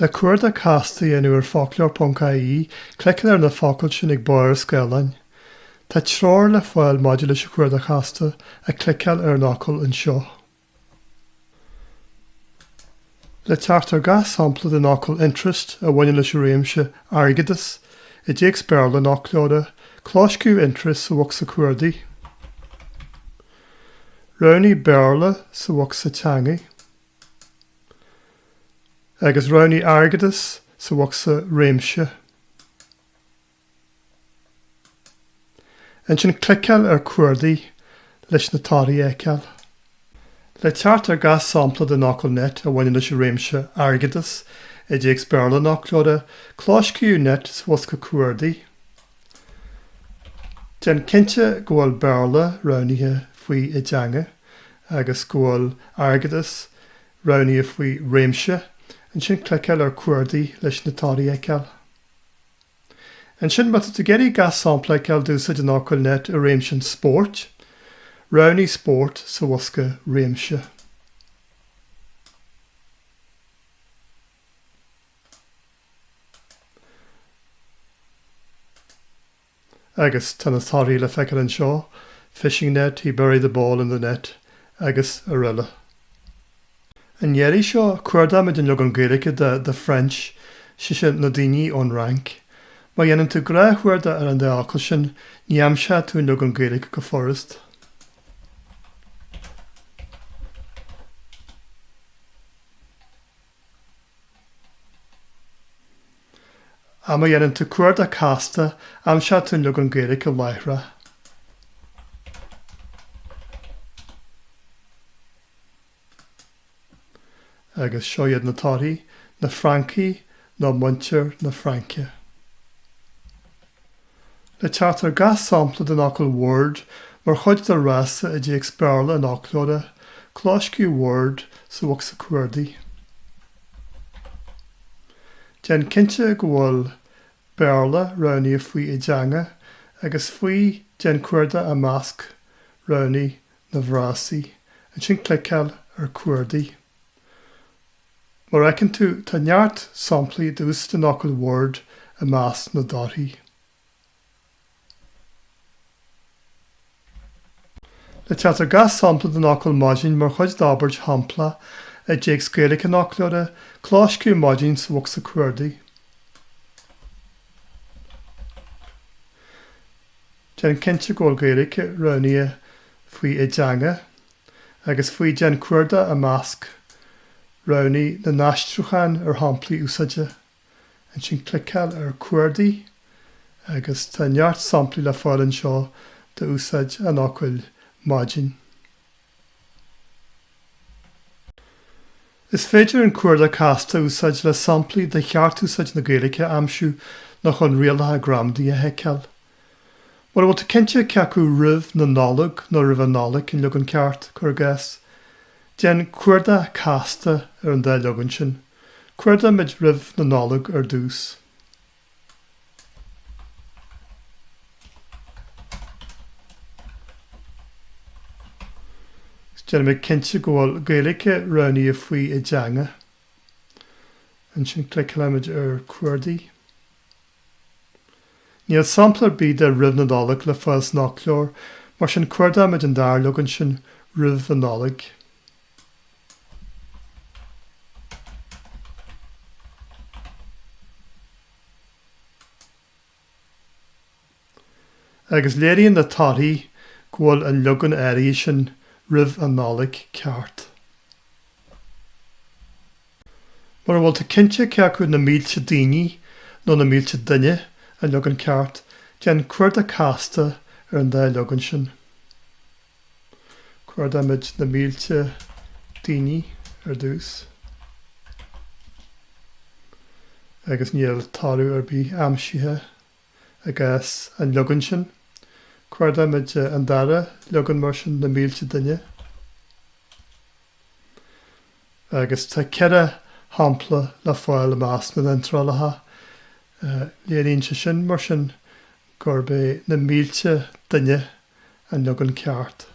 Le cuardach casta a dhéanamh ar foclóir.ie, cliceáil ar na focail sin ag barr an scáileáin. Tá treoir le fáil maidir leis an chuardach chasta, ach cliceáil ar an fhocal anseo. Le teacht ar gach sampla den fhocal 'interest' a bhaineann leis an réimse airgeadas i dtéacs Béarla an fhoclóra, clóscríobh 'interest' sa bhocsa cuardaigh. Roghnaigh 'Béarla' sa bhocsa teanga, agus roghnaigh 'airgeadas' sa bhocsa réimse. Ansin cliceáil ar Cuardaigh leis na torthaí a fheiceáil. Le teacht ar gach sampla den fhocal net a bhaineann leis an réimse airgeadas i dtéacs Béarla an fhoclóra, clóscríobh net sa bhosca cuardaigh. Déan cinnte go bhfuil Béarla roghnaithe faoi I dTeanga agus go bhfuil Airgeadas roghnaithe faoi Réimse, ansin cliceáil ar Cuardaigh leis na torthaí a fheiceáil. Ansin, má tá tú ag iarraidh gach sampla a fheiceáil d'úsáid an fhocail net i réimse an spóirt, roghnaigh spórt sa bhosca réimse. Agus tá na torthaí le feiceáil anseo, fishing net, he buried the ball in the net, agus araile. An iarraidh seo, cuardóimid an leagan Gaeilge de the French, is é sin na daoine ón Fhrainc. Má dhéanann tú gnáthchuardach ar an dá fhocal sin, ní aimseoidh tú an leagan Gaeilge go furast. Ach má dhéanann tú cuardach casta, aimseoidh tú an leagan Gaeilge láithreach. Agus seo iad na torthaí, na Francaigh nó muintir na Fraince. Le teacht ar gach sampla den fhocal word mar chuid de fhrása i dtéacs Béarla an fhoclóra, clóscríobh word sa bhocsa cuardaigh. Déan cinnte go bhfuil Béarla roghnaithe faoi I dTeanga agus faoi Déan cuardach I Measc roghnaigh na bhFrásaí, ansin cliceáil ar Cuardaigh. Mar a fheiceann tú, tá neart samplaí d'úsáid an fhocal word i measc na dtorthaí. Le teacht ar gach sampla den fhocal maidin mar chuid d'abairt shamplach i dtéacs Gaeilge an fhoclóra, clóscríobh maidin sa bhocsa cuardaigh. Déan cinnte go bhfuil Gaeilge roghnaithe faoi I dteanga agus faoi déan cuardach i measc roghnaigh na n-aistriúchán ar shamplaí úsáide, ansin cliceáil ar Cuardaigh agus tá neart samplaí le fáil anseo d'úsáid an fhocail maidin. Is féidir an cuardach casta a úsáid le samplaí de cheartúsáid na Gaeilge a aimsiú nó chun rialacha gramadaí a sheiceáil. Mura bhfuil tú cinnte cé acu roimh na Nollag nó roimh an Nollaig an leagan ceart, cuir i gcás, déan cuardach casta ar an dá leagan sin. Cuardaímid roimh na Nollag ar dtús. Déanaimid cinnte go bhfuil Gaeilge roghnaithe faoi i dteanga. Ansin cliceálaimid ar Cuardaigh. Níl sampla ar bith de roimh na Nollag le fáil san fhoclóir, mar sin cuardaímid an dara leagan sin, roimh an Nollaig. Agus léiríonn na torthaí go bhfuil an leagan áirithe sin roimh an Nollaig ceart. Mura bhfuil tú cinnte cé acu na mílte daoine nó na mílte duine an leagan ceart, déan cuardach casta ar an dá leagan sin. Cuardaímid na mílte daoine ar dtús. Agus níl toradh ar bith aimsithe. i gcás an leagain sin. Cuardaímid an dara leagan mar sin, na mílte duine, agus tá ceithre shampla le fáil i measc na n-iontrálacha. Léiríonn sé sin, mar sin, gurb é na mílte duine an. an leagan ceart.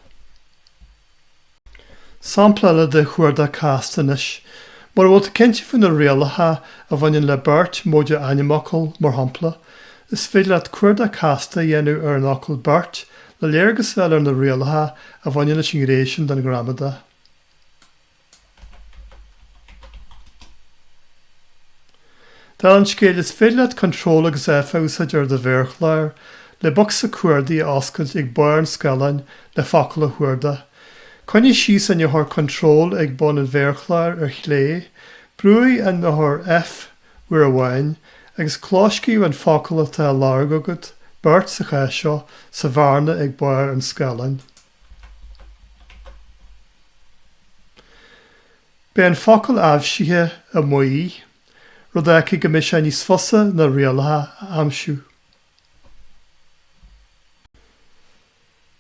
Sampla eile de chuardach casta anois. Mura bhfuil tú cinnte faoi na rialacha a bhaineann le beirt móide ainmfhocal, mar shampla, is féidir leat cuardach casta a dhéanamh ar an fhocal 'beirt' le léargas a fháil ar na rialacha a bhaineann leis an ghné sin den ghramadach. Dála an scéil, is féidir leat Control agus F a úsáid ar do mhéarchlár le bocsa cuardaigh a oscailt ag barr an scaileáin le focal a chuardach. Coinnigh síos an eochair Control ag bun an mhéarchláir ar chlé, brúigh an eochair F uair amháin, agus clóscríobh an focal atá á lorg agat beirt sa chás seo, sa bhearna ag barr an scaileáin. Beidh an focal aibhsithe amuigh, rud a fhágfaidh go mbeidh sé níos fusa na rialacha a aimsiú.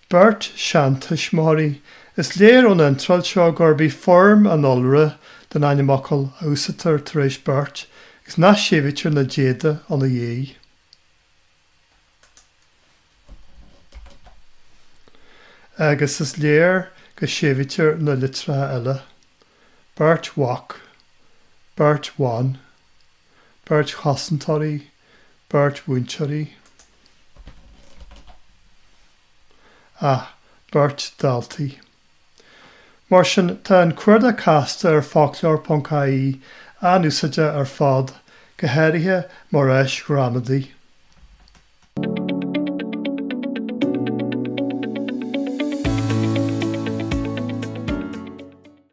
Beirt seantuismitheoirí, is léir ón iontráil seo gurb í foirm an iolra den ainmfhocal a úsáidtear tar éis beirt, agus nach séimhítear na déada ina diaidh. Agus is léir go séimhítear na litreacha eile, beirt mhac, beirt bhan, beirt chosantóirí, beirt mhúinteoirí, ah, beirt daltaí. Mar sin, tá an cuardach casta ar foclóir.ie an-úsáideach ar fad, go háirithe mar áis ghramadaí.